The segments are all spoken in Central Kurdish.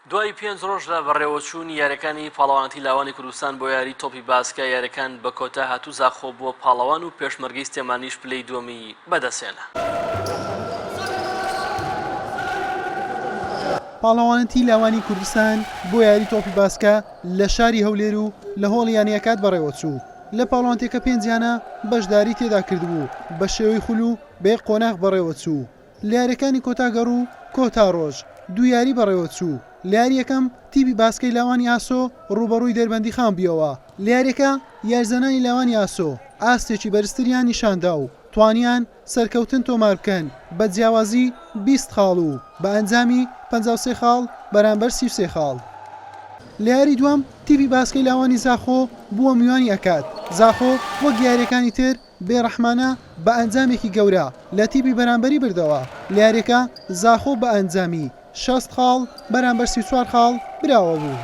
دوای پێنج رۆژ لە بەڕێوەچوونی یاریەکانی پاڵەوانەتی لاوانی کوردستان بۆ یاری تۆپی باسکە یاریەکان بە کۆتا هاتوو زاخۆ بووە پاڵەوان و پێشمەرگەی سلێمانیش پلەی دووەمی بەدەستهێنا. پاڵەوانەتی لاوانی کوردستان بۆ یاری تۆپی باسکە لە شاری هەولێر و لە هۆڵی یانەی ئەکاد بەڕێوەچوو لە پاڵەوانتێکە پێنج یانە بەشداری تێدا کردبوو بە شێوەی خول و بە یەک قۆناغ بەڕێوەچوو. لە یارییەکانی کۆتا گەڕ و کۆتا ڕۆژ دوو یاری بەڕێوەچوو، لە یاری یەکەم تیپی باسکەی لاوانی ئاسۆ ڕووبەڕووی دەربەندیخان بوویەوە، لە یارییەکە یاریزانانی لاوانی ئاسۆ ئاستێکی بەرزتریان نیشاندا و توانیان سەرکەوتن تۆماربکەن بە جیاوازی بیست خاڵ و بە ئەنجامی پەنجا و سێ خاڵ بەرامبەر سی و سێ خاڵ. لە یاری دووەم تیپی باسکەی لاوانی زاخۆ بووە میوانی ئەکاد زاخۆ وەک یارییەکانی تر بێڕەحمانە بە ئەنجامێکی گەورە لە تیپی بەرامبەری بردەوە، لە یاریەکە زاخۆ بە ئەنجامی شەست خاڵ بەرامبەر سی و چوار خاڵ براوە بوو.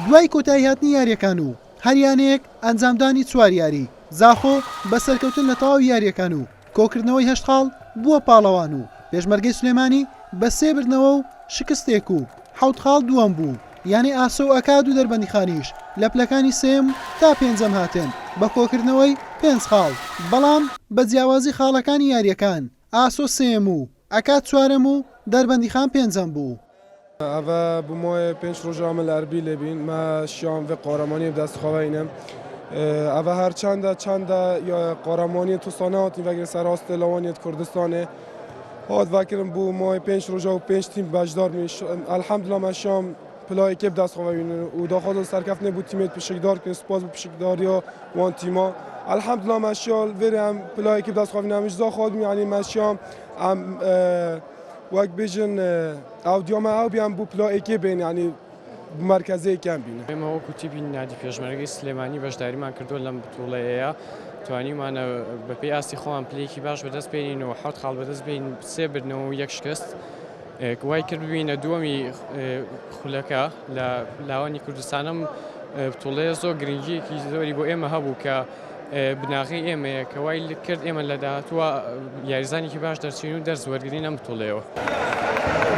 دوای کۆتایی هاتنی یاریەکان و هەر یانەیەک ئەنجامدانی چوار یاری، زاخۆ بە سەرکەوتن لە تەواوی یاریەکان و کۆکردنەوەی هەشت خاڵ بووە پاڵەوان و پێشمەرگەی سلێمانی بە سێ بردنەوە و شکستێک و حەوت خاڵ دووەم بوو، یانەی ئاسۆ و ئەکاد و دەربەندیخانیش لە پلەکانی سێیەم تا پێنجەم هاتن بە کۆکردنەوەی پێنج خاڵ، بەڵام بە جیاوازی خاڵەکانی یارییەکان ئاسۆ سێیەم و ئەکاد چوارەم و دەربەندیخان پێنجەم بوو. ئەڤە بمۆێ پێنج رۆژە ئەمە لە ئەربیل لێ بین، مە شیاوم ڤێ قۆرەمانی و دەست خوەینم. ئەڤە هەرچەندە چەندە قۆرەمانی توساناوت نیڤەگرێ سەراستێ لەوانێت کوردستانێ، هات ڤاکرم بو مای پێنج ڕۆژە و پێنج تیم بەشدار بووین ش- الحمدلله ما شام پلای کێب دست خواوین و داخوازم سەرکەفتنێ بو تیمێت پشکدار کن سپاس بو پشکداریا وان تیما الحمدلله ما شیال وێرێ ئەم پلای کێب دست خواوین ئەمیش زا خوازم یعنی ما شام ئەم اه، وەک بێژن اه، ئەو دیامە ئەو بیان بو پلا ئێکێ بێن یعنی مەرکەزێکیان بینە. ئێمە وەکو تیپی نادی پێشمەرگەی سلێمانی بەشداریمان کردووە لەم بتوڵەیەیە توانیمانە بەپێی ئاستی خۆمان پلێکی باش بەدەست بێنین و حەوت خاڵ بەدەست بین سێ بردنەوە و یەک شکست وای کرد ببینە دووەمی خولەکە لە لاوانی کوردستانم بتوڵەیە زۆر گرنگیەکی زۆری بۆ ئێمە هەبوو کە بناغی ئێمەیە کە وای کرد ئێمە لە داهاتووە یاریزانێکی باش دەرچین و دەرز وەرگین ئەم بتوڵەیەوە.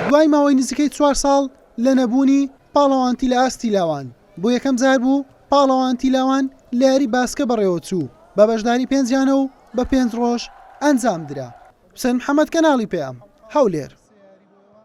دوای ماوەی نزیکەی چوار ساڵ لە نەبوونی پاڵەوانتی لە ئاستی لاوان، بۆ یەکەم جار بوو پاڵەوانتی لاوان لە یاری باسکە بەڕێوەچوو، بە بەشداری پێنج یانە و بە پێنج ڕۆژ ئەنجامدرا. حوسێن محەمەد، کەناڵی پەیام، هەولێر.